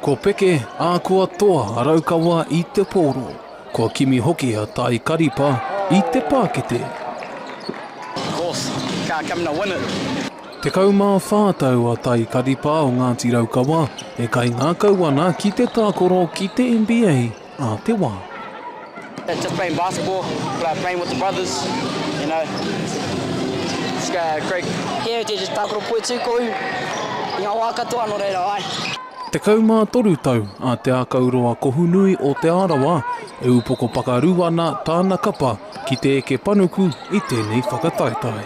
Ko Peke a kua toa a Raukawa i te pōro, kua kimi hoki a Tai Karipa i te pākete. Horse, car coming to win it. Tekau mā whā tau a Tai Karipa o Ngāti Raukawa e kaingākau ana ki te tākoro ki te NBA a te wā. It's just playing basketball, playing with the brothers, you know, it's great. Yeah, we're just tākaro poi tū ko ū, i ngā wā katoa nō reira, ai. Tekau mā toru tau a Te Ākauroa Kohunui o Te Arawa e upoko pakaru ana tāna kapa ki te eke panuku i tēnei whakataetae.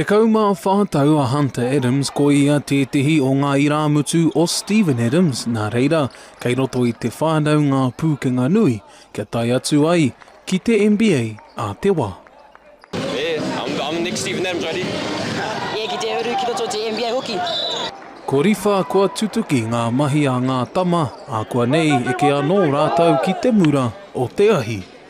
Tekau mā whā tau a Hunter Adams, ko ia tētehi o ngā irāmutu o Steven Adams, nā reira, kei roto i te whānau ngā pūkenga nui kia tae atu ai ki te NBA a te wā. Ko Riwha kua tutuki ngā mahi a ngā tama, ākuanei eke anō rātou ki te mura o te ahi.